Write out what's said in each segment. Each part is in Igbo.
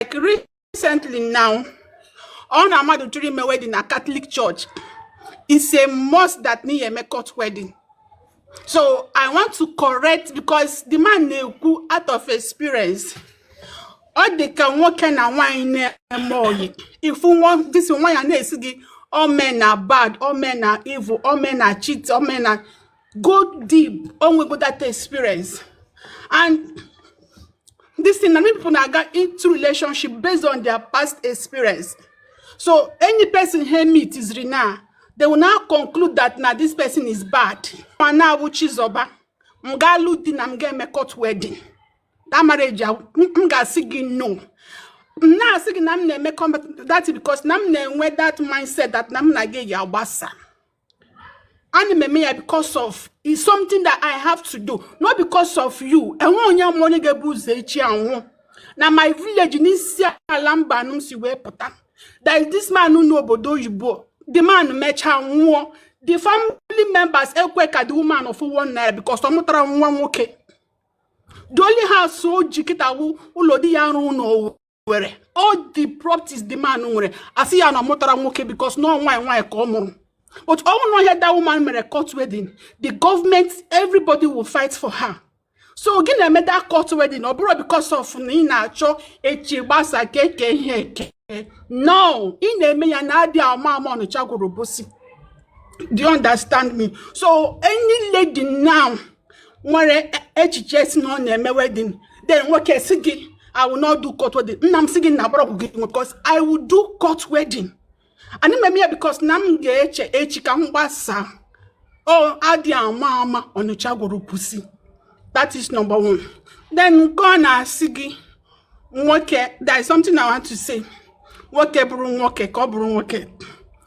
like recently now ọ na mmadụ chọrọ ime wedding na Catholic Church it's a must that n'ihe eme court wedding so i want to correct because the man na-ekwu out of experience ọ dị ka nwoke na nwaanyị na-eme oyi ị fụ this nwaanyị a na-asị gị all men are bad all men are evil all men are cheat all men are go deep o nwego that experience and this thing na many people na-aga into relationship based on their past experience so any person he meet is rina they will now conclude that na this person is bad mana a wụ Chizoba m ga-alụ di na m ga-eme court wedding that marriage m ga-asị gị no m na-asị gị na m na-eme that because na m na-enwe that mindset that na m na gị ya-agbasa ana m eme ya because of is something that i have to do not because of you enwe onye ma onye ga-ebu ụzọ echi anwụ na my village n'Isiala Mbano m si wee pụta there is this man nọ n'obodo oyibo the man mechaa nwụọ the family members ekwe ka the woman fụ one naira because ọ mụtarọ nwa nwoke the only house o ji kịta wụ ụlọ di ya rụrụ n'owu nwere all the properties the man nwere a sị ya na ọ mụtarọ nwoke because na ọ nwaanyị nwaanyị ka ọ mụrụ but ọ bụrụ na ihe that woman mere court wedding the government everybody will fight for her so gị na-eme that court wedding ọ bụrọ because of na ị na-achọ echi gbasa ka e kee ihe eke no ị na-eme ya na adị ama ama Ọnịcha gwara Obosi do you understand me so any lady now nwere e, echiche sị na ọ na-eme wedding then nwoke sị gị I will not do court wedding. Nna m sị gị na agbara ọgwụ gị because I will do court wedding. Ana m eme ya because na m ga-eche echi ka m gbasa. Ọ adị ama ama Ọnịcha gwara Obosi. That is number one. Then nke ọ na-asị gị nwoke there is something I want to say. Nwoke bụrụ nwoke ka ọ bụrụ nwoke.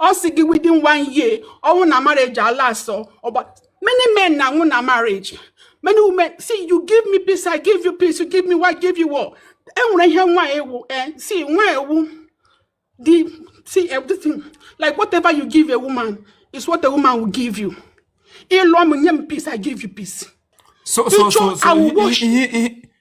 ọ sị gị within one year ọ nwụọ na marriage ala asọ ọgba many men na-anwụ na marriage many women see you give me peace i give you peace you give me war i give you war enwere ihe nwaanyị wụ eh see nwaanyị wụ the see everything like whatever you give a woman is what a woman will give you ị lụọ m nye m peace i give you peace so so so so ihe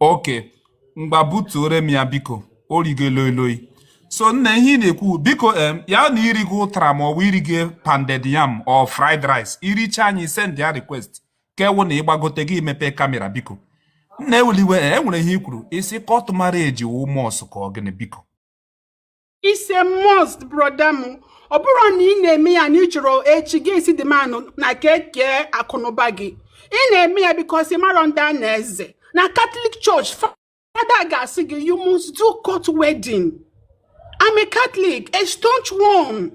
okay ngwa butuoro m ya biko o rigo loi loi so nna ihe ị na-ekwu biko em ya na i rigo ụtara ma ọ bụ i rigo pounded yam or fried rice i richa anyị send ya request ka ọ wụ na ị gbagote gị mepee kamera biko nna ewele iwe e nwere ihe i kwuru ị sị court marriage wụ must ka ọ gịnị biko it's a must brother m ọ bụrụ na ị na-eme ya na ị chọrọ echi gị esi dị mma nụ n'aka ke akụnụba gị ị na-eme ya because ị marọ ndị a na-eze na Catholic Church father ga-asị gị you must do court wedding I'm a Catholic, a staunch one.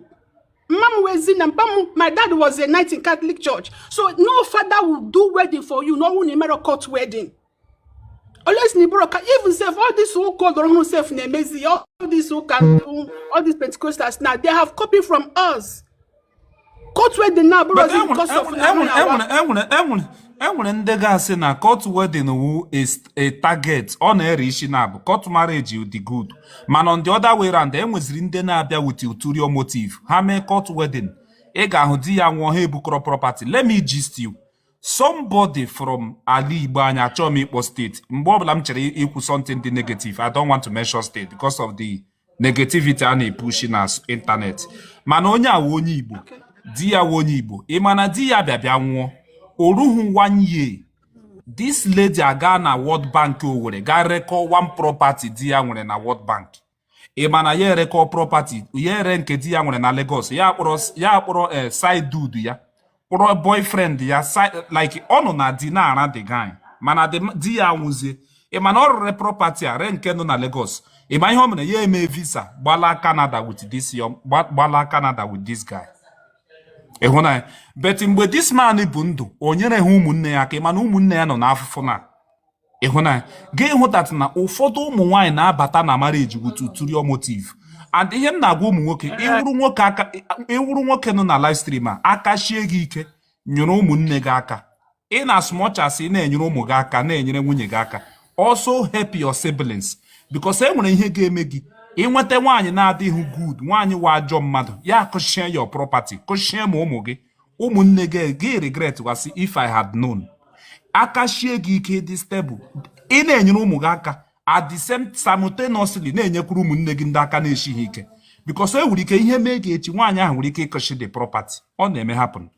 Mma m wụ Ezinne mpa m my dad was a knight in Catholic Church. So no father will do wedding for you, n'ọ wụ na ị merọ court wedding. unless na ị bụrụ ka even sef all this ụka ọgbara ọhụrụ sef na-emezi ya all this ụka all this pentecostals now they have copied from us court wedding na abụrụ But ọzi enwere- because of na enwere- ha na-awa. enwere- enwere- enwere- enwere ndị ga-asị na court wedding wu a s- a target ọ na-ere isi na abụ court marriage dị good mana on the other way round enweziri ndị na-abịa with ulterior motive ha mee court wedding ị ga-ahụ di ya nwụọ ha ebukọrọ property let me gist you somebody from ala Igbo anyị achọghị m ịkpọ state mgbe ọbụla m chere ikwu something dị negative I don't want to mention state because of the negativity a na-epushi na internet mana onye a wụ onye Igbo di ya wụ onye Igbo ị ma na di ya bịa bịa nwụọ o ruhu one year this lady aga na World Bank Owerri ga rekọ one property di ya nwere na World Bank ịma na ya erekọ property ya ere nke di ya nwere na Lagos ya kpọrọ ya kpọrọ eh, side dude ya kpọrọ boyfriend ya like ọ nọ na di na-ara the guy mana di ya nwụzie ịma na ọ rere property a ree nke nọ na Lagos ịma ihe ọ mere ya eme visa gbala Canada with this gbala Canada with this guy ị hụna ya but mgbe this man bụ ndụ o nyereha ụmụnne ya aka ịma na ụmụnne ya nọ n'afụfụ na ị hụna ya gị hụta na ụfọdụ ụmụ nwaanyị na-abata na marriage with ulterior motive and ihe m na-agwa ụmụ nwoke ị wụrụ nwoke aka ị wụrụ nwoke nọ na live stream aka shie gị ike nyere ụmụnne gị aka in as much as ị na-enyere ụmụ gị aka na-enyere nwunye gị aka also help your siblings because e nwere ihe ga-eme gị ịnweta nwaanyị na-adịghị good nwaanyị wụ ajọ mmadụ ya kuchie your property kuchie ma ụmụ gị ụmụnne gị gị regret wa sị if I had known aka shie gị ike dị stable ị na-enyere ụmụ gị aka at the same simultaneously na-enyekwuru ụmụnne gị ndị aka na-eshiha ike because e nwere ike ihe mee gị echi nwaanyị ahụ nwere ike ikuchi the property ọ na-eme happen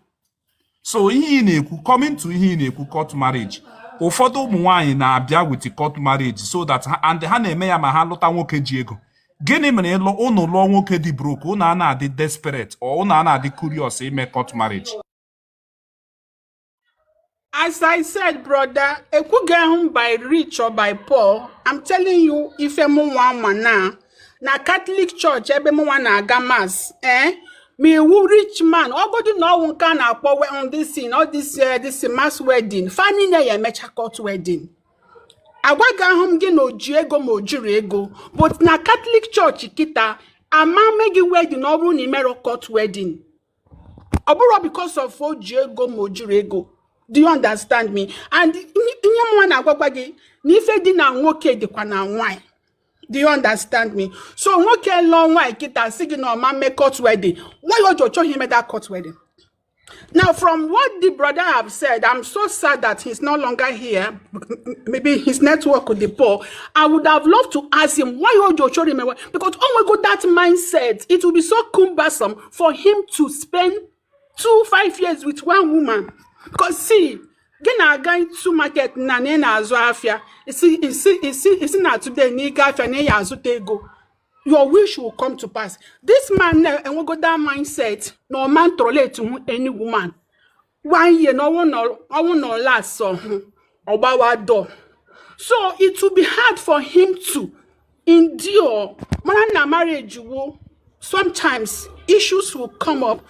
so ihe ị na-ekwu coming to ihe ị na-ekwu court marriage ụfọdụ ụmụ nwaanyị na-abịa with court marriage so that and ha na-eme ya ma ha lụta nwoke ji ego gịnị mere ịlụ ụnụ lụọ nwoke dị broke ụnụ a na-adị desperate or ụnụ a na-adị curious ime court marriage As I said, brother, ekwugahụ m by rich or by poor. I'm telling you ife mụnwa ma na na Catholic Church ebe mụnwa na-aga mass eh? ma ị wụ rich man ọgodu na ọ wụ nke a na-akpọ we- on this thing, all this, eh, this mass wedding fa niine ya-emecha court wedding agwaghahụ m gị na oji ego ma ojirọ ego but na katọlik chọọchị kịta ama mme gị wedin ọ bụrụ na ị merọ court wedin ọ bụrọ because of oji ego ma ojirọ ego do you understand me and ihe mụnwa na-agwagwa gị na ife dị na nwoke dịkwa na nwanyị do you understand me so nwoke lụọ nwaanyị kịta si gị na ọma mme court wedding why o ji chọghị ime that court wedding Now, from what the brother have said, I'm so sad that he's no longer here. Maybe his network with the poor. I would have loved to ask him why hold your children because oh my god, that mindset. It will be so cumbersome for him to spend two five years with one woman. Because see, gị na-aga ịtụ market na na ị na-azụ afịa isi isi isi isi na today na ịga afịa na ị ya azụta ego your wish will come to pass this man enwego that mindset na ọ man tolerate hụ any woman one year na ọ wụ na ọ la asọhụ ọ gbawa door so it will be hard for him to endure mana na marriage wo sometimes issues will come up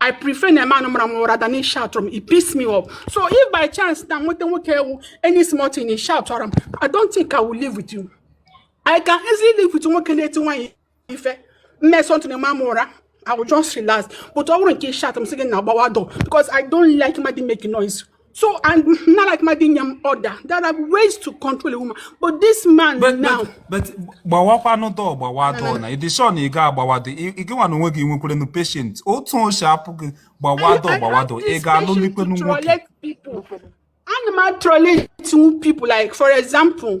I prefer na man mara m ụra than ishoutara m it piss me off so if by chance na nweta nwoke ewu any small thing ị shoutara m I don't think I will live with you I can easily live with nwoke na-eti nwaanyị ife mme something ị maa m ụra I will just relax but ọ bụrụ nke ishout m sị gị na agbawa door because I don't like mmadụ imake noise So I don't like mmadụ inye m order. There are ways to control a woman. But this man but, now. But gbawakwanụ door gbawa door na. Ị dị sure na ị ga-agbawa door. Ị gịnwa na onwe gị ị nwekwaranụ patience. Otu o si apụ gị gbawa door gbawa door. Ị ga-alụlikwanụ nwoke. Ana m atrọle two people like for example.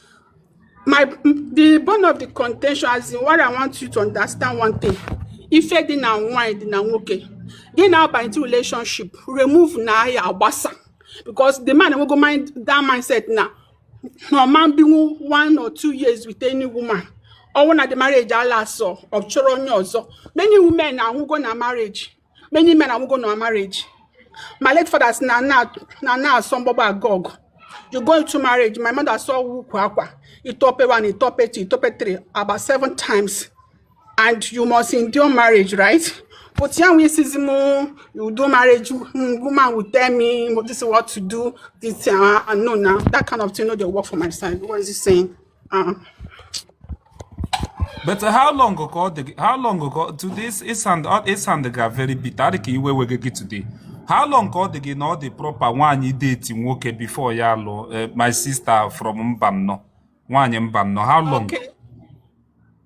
my the bone of the contention as in what i want you to understand one thing ife dị na nwanyị dị na nwoke gị na-aba into relationship remove na ya agbasa because the man enwego mind that mindset na na ọ ma-ebinwu one or two years with any woman ọ wụ na the marriage ala asọ ọ chọrọ onye ọzọ many women anwụgo na marriage many men anwụgo na marriage my late father si na na asọ mgbagba aga ọgụ you go into marriage my mother saw ukwu akwa itope one itope two itope three about seven times and you must endure marriage right But yeah, we see Zimo, you do marriage, mm, woman will tell me this is what to do. This uh, no now that kind of thing, no, they work for my side. What is he saying? Uh-uh. but how long ka ọ dị how long ka to this ị sound ị soundga very bitter dị ka iwe wega gị today how long ka ọ dị gị na ọ dị proper nwaanyị deti nwoke before ya alụọ eh, my sister from Mbanọ nwaanyị Mbanọ how long okay.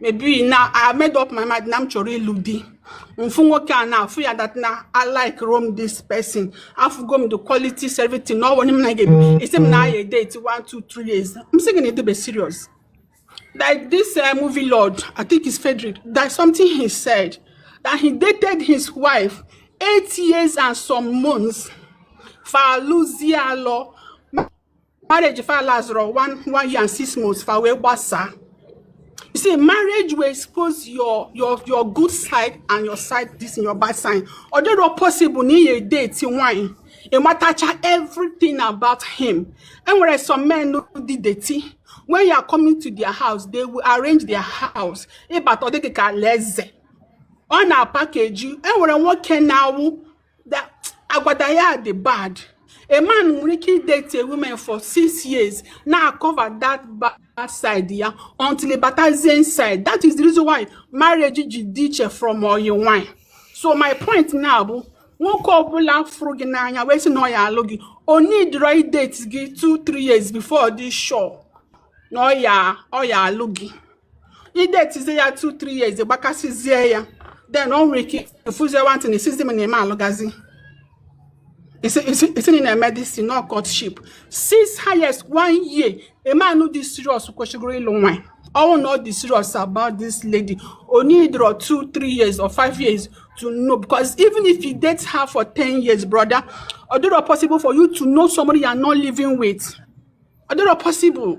maybe na i made up my mind na m chọrọ ịlụ di mfu nwoke a na-afụ ya that na i like rom this person afụgo m the quality servity na ọwụ m na ga esi m na aya date one two three years m sị gị na edebe serious like this uh, movie lord i think it's frederick that something he said that he dated his wife eight years and some months for Luzialo marriage fa last one one year and six months fa wee gbasaa you see marriage will expose your your your good side and your side this and your bad side ọ dịrọ possible na ị ya-edate nwanyị ị matacha everything about him enwere some men dị dirty when you are coming to their house they will arrange their house ị bata ọ dị gị ka alaeze ọ na-apakeji enwere nwoke na-awụ agwada ya dị bad a man nwere ike idate a woman for six years na-acover that bad side ya until batazie inside that is the reason why marriage ji dị iche from oyi nwanyị so my point now bụ nwoke ọbụla fụrụ gị n'anya wee sị na ọ ya alụ gị ọ needirọ idate gị 2-3 years before dị sure na ọ ya alụ gị idetizie ya 2 3 years gbakasịzie ya then o nwere ike efuzie nwantị na isizi m na eme alụgazi isi na na-eme dis no courtship six highest one year a man no dey serious kwesịgoro ịlụ nwanyị ọnwụ na ọ dị serious about this lady o need or two three years or five years to know because even if you date her for ten years brother ọ dịrọ possible for you to know somebody you are not living with ọ dịrọ possible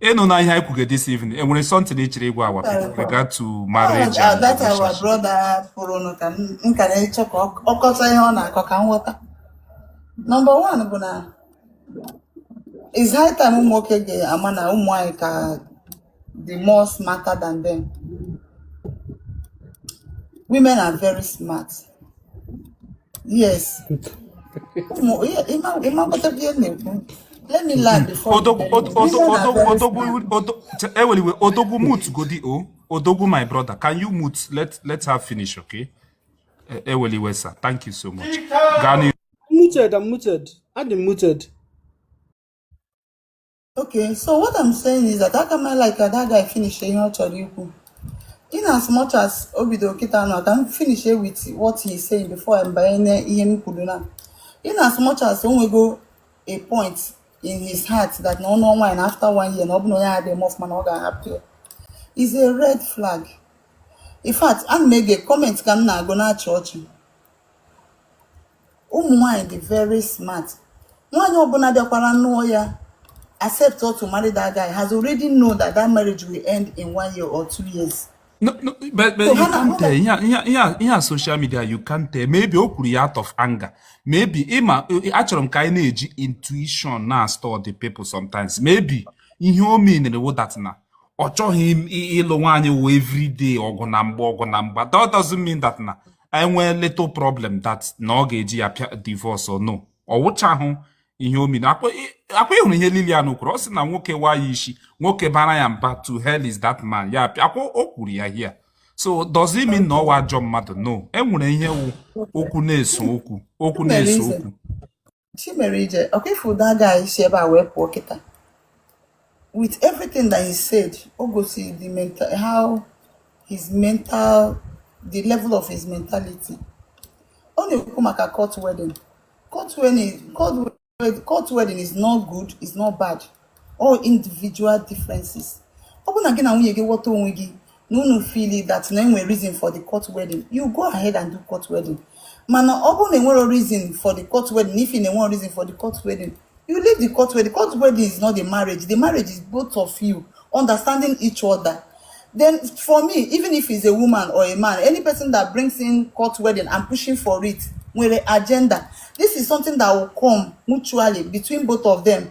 ịnụ na ihe anyị kwuge this evening enwere something ị chọrọ ịgwa our people regard to marriage and that our relationship brother pụrụnụ ka m m ka na-achọ ka ọ ọ kọta ihe ọ na-akọ ka m ghọta number one bụ na is high time ụmụ nwoke ga-ama na ụmụ nwaanyị ka dị more smarter than them women are very smart Yes. Let me land before. Odogwu, Odogwu, Odogwu, Odogwu, Odogwu, mute, Godi, oh. Odogwu, my brother, can you mute? Let, let her finish, okay? Eweli Wesa, thank you so much. Gani. I'm muted, I'm muted. I'm muted. Okay, so what I'm saying is that aka m a-like that guy finish ihe ọ chọrọ ikwu. In as much as o bido kịta nọ ka m finish with what he's saying before m banye ihe m kwuru na. In as much as o nwego a point in his heart that na ọ nụọ nwaanyị after one year na ọ bụ na onye adịghị mọf mana ọ ga-ahapụ ya is a red flag. In fact, ana m agụ comment ka m na-agụ na-achị ọchị. ụmụ nwanyị dị very smart nwaanyị ọbụla bịakwara nụọ ya accept to marry that guy has already know that that marriage will end in one year or two years. No, no, but, but so you can't tell. Yeah, yeah, yeah, yeah, social media, you can't tell. Maybe o kwuru ya out of anger. Maybe ịma achọrọ m ka anyị na-eji intuition na-study people sometimes. Maybe ihe o meanere wụ that na ọ chọghị ịlụ nwaanyị wụ everyday ọgụ na mgba ọgụ na mgba. That doesn't mean that na enwee little problem that na ọ ga-eji ya pịa divorce o no ọ wụchahụ ihe o mean akwa ị hụrụ ihe Lilian kwuru ọ sị na nwoke waa ya isi nwoke baara ya mba to hell with that man ya pịa akwa o kwuru ya here so does it mean na ọ wụ ajọ mmadụ no enwere ihe wụ okwu na-eso okwu okwu na-eso okwu chi mere ije ọkwa ị fụ that guy si ebe a wee pụọ kịta with everything that he said o gosiri the mental how his mental the level of his mentality ọ na-ekwu maka court wedding court wedding court wedding is not good is not bad all individual differences ọ bụrụ na gị na nwunye gị ghọta onwe gị na unu fili that na enwe reason for the court wedding you go ahead and do court wedding mana ọ bụrụ na enwere reason for the court wedding if you na enwere reason for the court wedding you leave the court wedding the court wedding is not the marriage the marriage is both of you understanding each other then for me even if it's a woman or a man any person that brings in court wedding and pushing for it nwere agenda this is something that will come mutually between both of them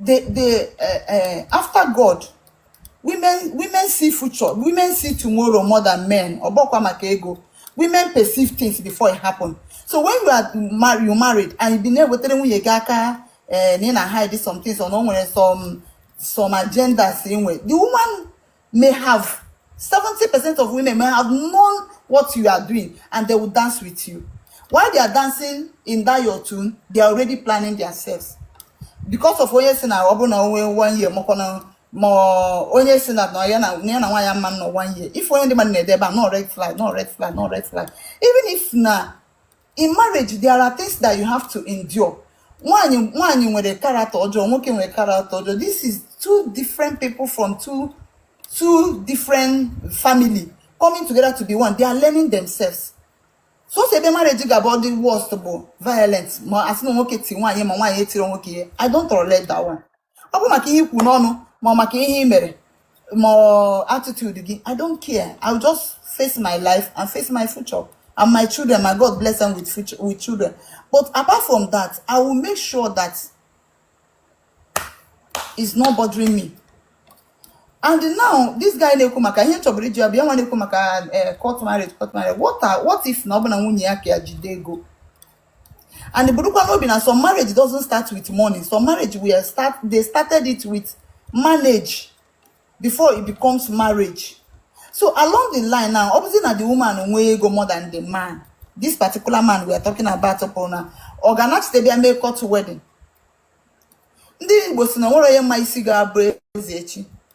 the the uh, uh, after God women women see future women see tomorrow more than men ọgbọkwa maka ego women perceive things before it happen so when you are married you married and you bi na-ewetara nwunye gị aka eh, na ị na hide some things or na o nwere some some agendas inwe the woman may have 70% of women may have known what you are doing and they will dance with you. While they are dancing in that your tune, they are already planning theirselves. Because of onye sị na ọ bụ na onwe one year mọkọ na ma onye sị na ya na ya na nwaanyị ama anọ one year. Ị fụọ ihe ndị mmadụ na-ede ebe a, na ọ red flag, na ọ red flag, na ọ red flag. Even if na in marriage there are things that you have to endure nwaanyị nwaanyị nwere character ọjọọ nwoke nwere character ọjọọ this is two different people from two two different family coming together to be one they are learning themselves sọọsọ ebe marriage ga-abụ ọ dị worst bụ violence ma a sị na nwoke ti nwaanyị ma nwaanyị tiri nwoke ihe i don't tolerate that one ọ bụ maka ihe i kwu n'ọnụ ma maka ihe i mere ma attitude gị i don't care i will just face my life and face my future and my children ma god blessịa m with future with children but apart from that i will make sure that is not bothering me and now this guy na-ekwu maka ihe chọburu iji bịa nwa na-ekwu maka eh, court marriage court marriage what if na ọ bụ na nwunye ya ka ya jide ego and burukwa n'obi na some marriage doesn't start with money some marriage we start they started it with manage before it becomes marriage so along the line now obviously na the woman nwee ego more than the man this particular man we are talking about fụrụ na ọ ga-anachite bịa mee court wedding ndị igbo sị na o nwero onye ma isi ga-abụ eze echi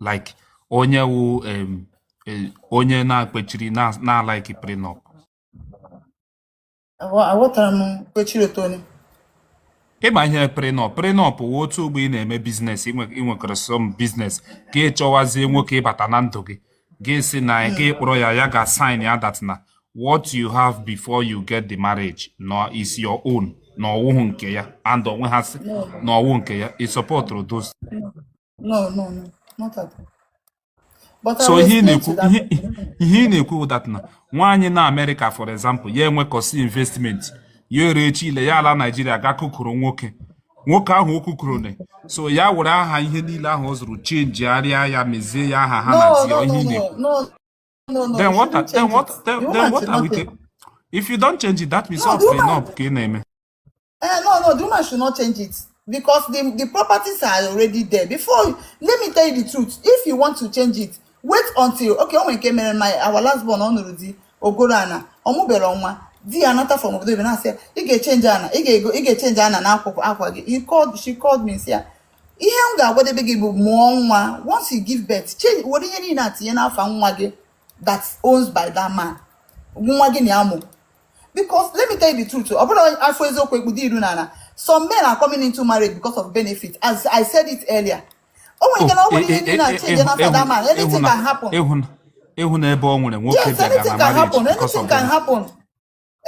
like onye wụ em, eh, onye na-akpechiri na- na-alaiki prenup Aghọ- aghọtara m kwechiri otu onye ị ma ihe prenup prenup wụ otu ugbua ị na-eme biznes i nwe- i nwekọrọ some biznes gị achọwazie nwoke ịbata na ndụ gị gị asị na gị akpọrọ ya ya gaa sign ya that na what you have before you get married now is your own na ọ wụhụ nke ya and onwe ha sị na ọ wụ nke ya ị sọpọtụrụ those No, no, no, not at all. But so ihe na-ekwu ihe ị na-ekwu wụ that na nwaanyị nọ Amerịka for example ya enwekọsịa investment ya ere echi ile ya ala Naijiria gaa kụkọrọ nwoke nwoke ahụ ọ kụkọrọ na-eso ya were aha ihe niile ahụ ọ zụrụ chenjigharịa ya mezie ya aha ha na ya wụ ihe ị na-ekwu then what then what then what are we if you don't change it that means ọ pụrụ na ọ bụ ka ị na-eme Eh, no, no, the woman should not change it because the, the properties are already there. Before, you- let me tell you the truth. If you want to change it, wait until okay. O nwe nke mere my our last born ọ nụrụ di o goro ana ọ mụbero nwa di ya anata from obodo oyibo na-asị ya, ị ga-echenji ana ị ga-ego ị ga-echenji ana na akwụkwọ akwa gị He called, she called me m sị ya ihe m ga-agwadebe gị bụ mụọ nwa once you give birth change were ihe niile a tinye n'afa nwa gị that owns by that man nwa gị na ya mụ because let me tell you the truth ọ bụrọ a fụ eziokwu e kpudo iru n'ala some men are coming into marriage because of benefit as i said it earlier o nwere ike na ọ nwere ihe ndị na-achenje na fada man anything can happen ịhụ na ebe ọ nwere nwoke yes anything can happen anything can happen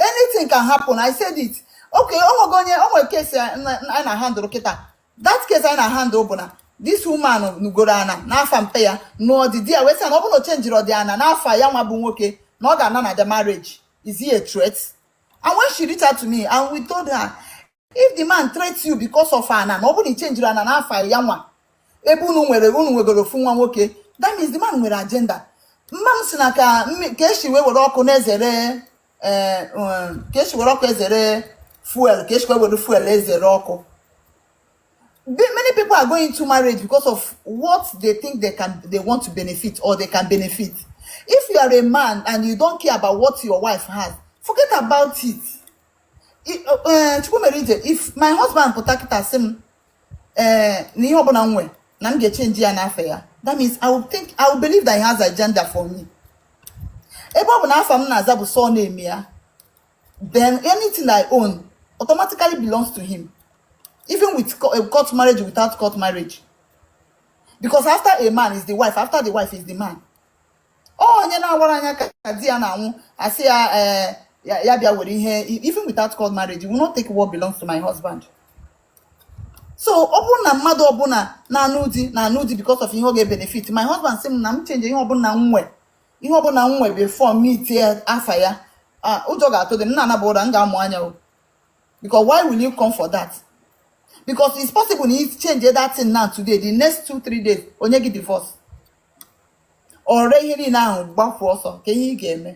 anything can happen i said it okay o nwego onye o nwere case anyị na-ahandle kịta that case anyị na-ahandle bụ na this woman goro ana n'afa mpa ya nụọ di di ya wee sị ya na ọ bụrụ na o chenjirodị ana n'afa ya nwa bụ nwoke na ọ ga-ana na the marriage is a threat and when she reach out to me and we told her if the man threats you because of ana na ọ bụrụ na i chenjiro ana n'afa ya nwa ebe unu nwere unu nwegoro ofu nwa nwoke that means the man nwere agenda mma m sị na ka mmi- ka e si wee were ọkụ na-ezere ee eh, um, ka esi were ọkụ ezere fuel ka esikwa were fuel ezere ọkụ many people are going into marriage because of what they think they can they want to benefit or they can benefit if you are a man and you don't care about what your wife has forget about it eh, chukwumere ije if my husband pụta kịta sị m ee eh, na ihe ọbụla m nwere na m ga-echenji ya n'afa ya that means I will think I will believe that he has agenda for me ebe ọ bụ na afa m na-aza bụ surname ya then anything I own automatically belongs to him even with eh, court marriage without court marriage because after a man is the wife after the wife is the man onye na-awara anya ka di ya na-anwụ a sị ya eh, ya bịa were ihe even without court marriage you will not take what belongs to my husband so ọ bụrụ na mmadụ ọbụla na-anụ di na-anụ di because of ihe ọ ga-ebenefit my husband sị m na m change ihe ọbụla m nwe ihe ọbụla m nwe before m itie afa ya ụjọ ga-atụdị m na a naba ụra m ga-amụ anya o because why will you come for that because it's possible na i change that thing now today the next two three days o nye gị divorce o ree ihe niile ahụ gbapụ ọsọ kee ihe ị ga-eme